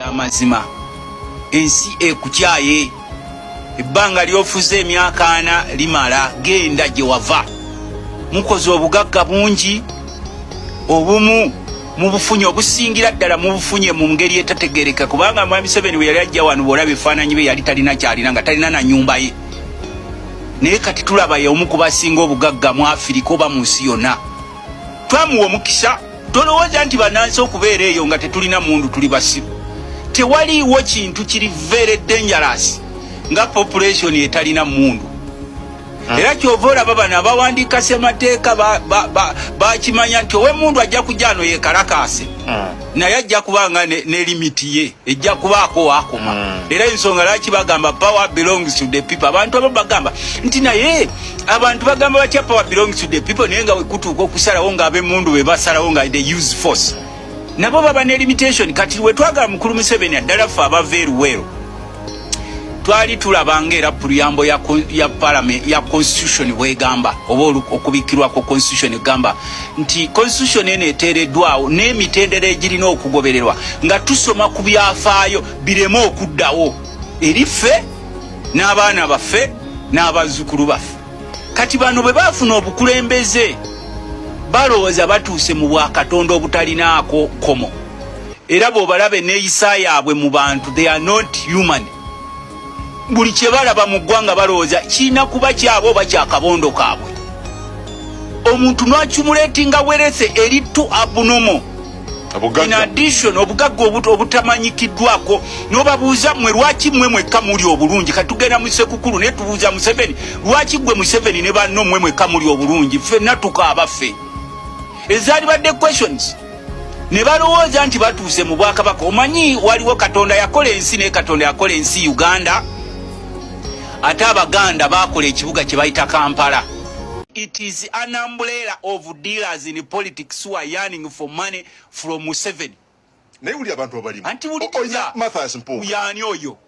amazima ensi ekukyaye ebbanga lyofuze emyaka ana limala genda gye wava mukoze obugagga bungi obumu mubufunye obusingira ddala mubufunye mu ngeri etategereka kubanga mwami seveni bwe yali ajja wano bwolaba ebifaananyi bye yali talina kyalina nga talina na nyumba ye naye kati tulaba ye omu kubasinga obugagga mu afirika oba mu nsi yonna twamuwa omukisa tolowooza nti banansi okubeera eyo nga tetulina mundu tuli basiru tewaliiwo kintu kiri very dangerous nga population etalina mundu hmm. era kyova olaba bano abawandiika semateeka bakimanya nti owemundu ajja kujja ano yekalakaase hmm. naye ajja kubanga ne limiti ye ejja kubaako wakoma mm. era ensonga lwaki bagamba power belongs to the people abantu abo bagamba nti naye abantu bagamba batya power belongs to the people naye nga wekutuuka okusalawo nga abemundu be basalawo nga the use force nabo baba ne limitation kati wetwagala mukulu museveni addala ffe abava eruweero twali tulaba nga era puluyambo ya, ya parliament ya constitution bwegamba oba okubikirwa ku constitution egamba nti constitution eno eteereddwawo n'emitendera egirina okugobererwa nga tusoma ku byafaayo bireme okuddawo eri ffe n'abaana baffe n'abazzukulu baffe kati bano bwe baafuna obukulembeze balowooza batuuse mu bwakatonda obutalinaako kkomo era bwobalaba eneyisa yaabwe mu bantu they are not human buli kyebalaba mu ggwanga balowooza kirina kuba kyabwe oba kyakabondo kaabwe omuntu nwakimuleti nga werese eri tu abunomo in addition obugagga obutamanyikiddwako nobabuuza mwe lwaki mwe mwekka muli obulungi katugenda musekukulu naye tubuuza museveni lwaki gwe museveni ne banno mwe mwekka muli obulungi ffenna tukaabaffe ezaali badde questions ne balowooza nti batuuse mu bwakabaka omanyi waliwo katonda yakola ensi naye katonda yakola ensi uganda ate abaganda bakola ekibuga kye bayita kampala it is an umbrella of dealers in politics who are yearning for money from museveni naye wuli abantu abalimu anti wulikiza oh, oh, mathas mpunga yani oyo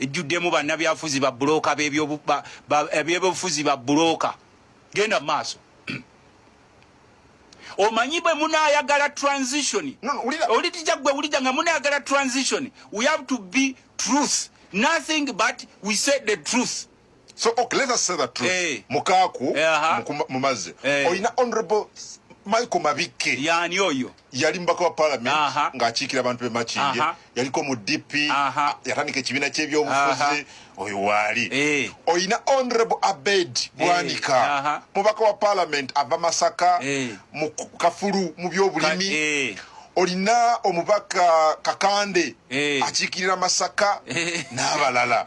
ejjuddemu bannabyafuzi babuloka bebyobufuzi babuloka genda maaso omanyi bwe munayagala transition olitija gwe wulija nga munayagala transition we have to be truth nothing but we said the truth so okay let us say that truth hey. Eh. mukaku hey, eh, aha. mumaze hey. Eh. oyina honorable michael mabikke yani oyo yali mubaka wa parliament ng'akiikira abantu be makinje yaliko mu dp yatandika ekibiina ky'ebyobufuzi oyo waali eh. oyina honorable abed eh. bwanika mubaka wa parliament ava masaka eh. mu kafulu mu byobulimi olina omubaka kakande akiikirira masaka n'abalala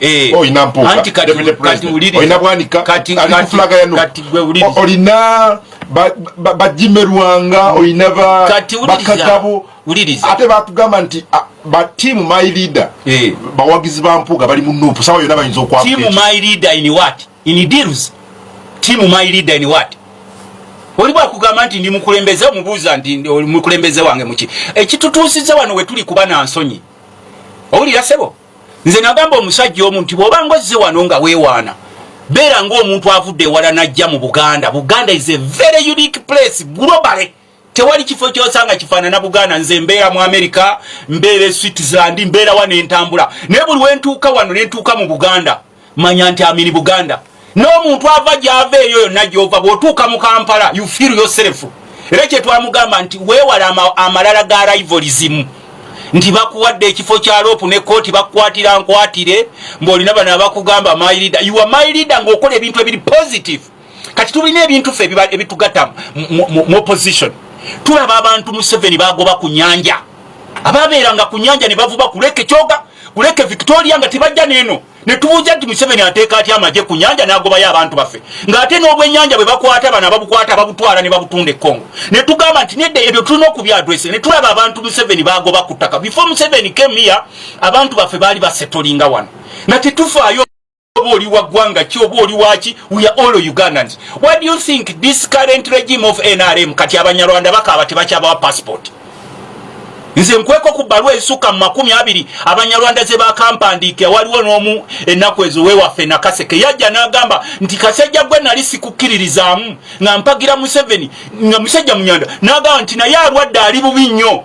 Eh. olina mpuukaolina bwanika kati olina bajimerwanga olina bakagabo ate batugamba nti batiimu my leader eh. bawagizi ba mpuuga bali mu nupu sawa yona bayinza okwakti oli bwakugamba nti ndi mukulembeze omubuuza nti mukulembeze wange muki ekitutuusiza wano wetuli kuba na nsonyi owulira sebo nze nagamba omusajja omu nti bwoba ngozze wano nga wewaana beera ngaomuntu avudde ewala najja mu buganda buganda is a very unique place globally tewali kifo kyosanga kifaanana buganda nze mbeera mu america mbeera e switzerland mbeera wano entambula naye buli wentuuka wano nentuuka mu buganda manya nti amini buganda n'omuntu ava gyava eyo yonna gyova bw'otuuka mu kampala you feel yourself era kyetwamugamba nti weewala amalala ga rivoli zimu nti bakuwadde ekifo kya loopu ne kooti bakukwatira nkwatire mbaolina bano abakugamba myleader ua myleader ng'okola ebintu ebiri positive kati tulina ebintu fe ebitugata mu opposition tulaba abantu museveni bagoba ku nyanja ababeeranga ku nyanja ne bavuba kuleke kyoga kuleke victoria nga tebajja neeno netubuuza nti museveni ateeka atya amagye ku nyanja n'agobayo abantu baffe ng'ate n'obwenyanja bwe bakwata bano ababukwata babutwala ne babutunda ekongo ne tugamba nti nedda ebyo tulina okubyadrese ne tulaba abantu museveni bagoba ku ttaka before museveni kemiya abantu baffe baali basetolinga wano nga tetufaayo oba oli wa ggwanga ki oba oli waki we are all ugandans what do you think this current regime of nrm kati abanyarwanda bakaaba tebakyabawa passport nze nkweko ku bbalwa ezisukka mu makumi abiri abanyarwanda ze bakampandiike waliwo n'omu ennaku ezo wewaffe nakaseke yajja n'agamba nti kasajja gwe nali sikukkiririzaamu nga mpagira museveni nga musajja munyanda n'agamba nti naye alwadde ali bubi nnyo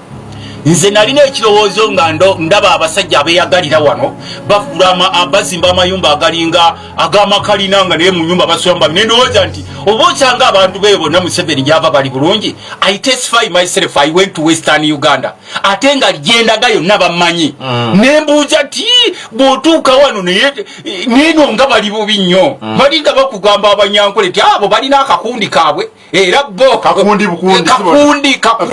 nze nalina ekirowoozo nga ndaba abasajja abeyagalira wano bafula bazimba amayumba agalinga agamakalina nga naye munyumba basulamu ne ndowooza nti oba okyanga abantu beyo bonna museveni gyava bali bulungi i testify myself i went to western uganda ate nga gyendaga yonna bamanyi mm. nembuuza ti bwotuuka wano naye neno nga bali bubi nnyo mm. bali nga bakugamba abanyankole ti abo balina akakundi kaabwe era bo kakundi kakundi